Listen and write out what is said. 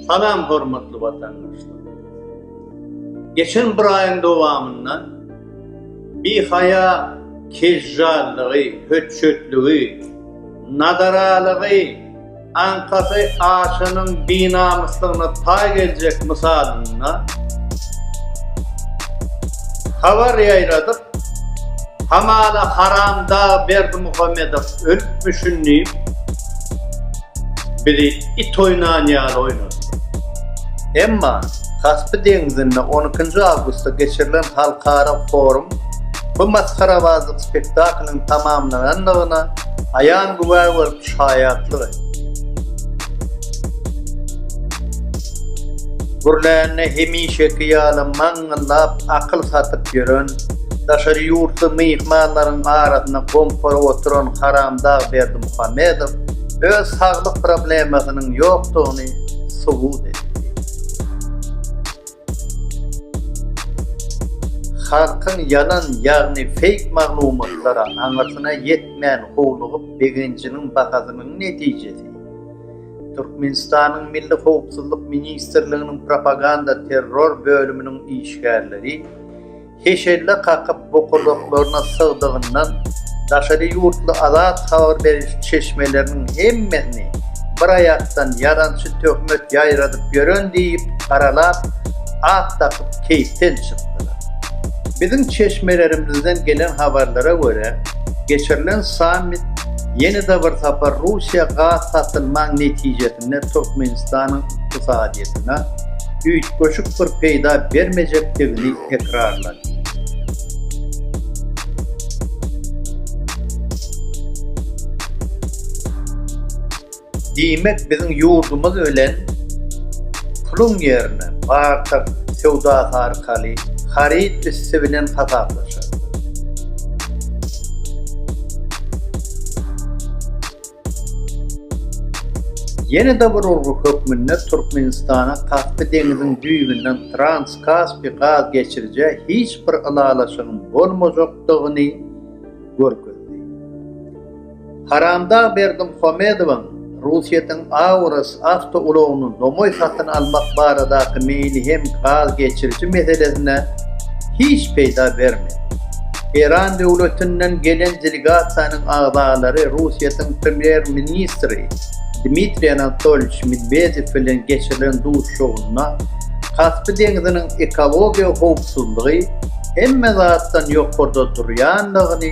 Salam hormatly watandaşlar! Geçen bir aýyň dowamynda bihaýa kejjallygy, hötjetligi, nadaralygy, aňkasy açanyň binamyslygyna taý geljek mysalynda habar ýaýradyp, Hamala haram dag Berdimuhamedow ölüpmişin diýip bizi it oýnan ýaly oýnadylar. Emma Kaspy deňzinde on ikinji awgustda geçirilen halkara forum bu masgarabazlyk spektaklynyň tamamlanandygyna aýan güwä bolup şaýatlyk etdi. Gürlände hemişeki ýaly maňňa Zyňyllap akyl satyp ýören, daşary ýurtly myhmanlaryň arasynda gompuryp oturan haramdag Berdimuhamedow öz saglyk problemasynyň ýokdugyny subut etdi. Halkyň ýalan ýagny feýk maglumatlara aňyrsyna ýetmän howlugyp begenjiniň bahasynyň netijesi. Türkmenistanyň Milli howpsuzlyk ministrliginiň propaganda-terror bölüminiň işgärleri heşelle kakyp bokurdaklaryna sygdygyndan daşary ýurtly azat habar beriş çeşmeleriniň hemmesini bir aýakdan ýalançy töhmet ýaýradyp ýören diýip garalap at dakyp keýpden çykdylar. Biziň çeşmelerimizden gelen habarlara görä geçirilen sammit Ýene-de bir sapar Russiýa gaz satyn maň netijesinde Türkmenistanyň ykdysadyýetine üýtgeşik bir peýda bermejekdigini tekrarlady. Diýmek biziň ýurdumyz bilen puluň ýerine bartak söwdasy arkaly haryt üsti bilen hasaplaşarlar. Ýene-de bir urgy hökmünde Türkmenistana Kaspy deňiziň düýbünden Trans-Kaspy gaz geçirijä hiç bir ylalaşygyň bolmajakdygyny görkezdi. Haramdag Berdimuhamedowyň Russiýetiň Auris awtoulagyny nomaý satyn almak baradaky meýli hem gaz geçiriji meselesine hiç peýda bermedi. Eýran döwletinden gelen delegasiýanyň agzalary Russiýetiň premýer-ministri Dmitriý Anatolýewiç Medwedew bilen geçirilen duşuşygynda Kaspy deňziniň ekologiýa howpsuzlygy hemme zatdan ýokarda durýandygyny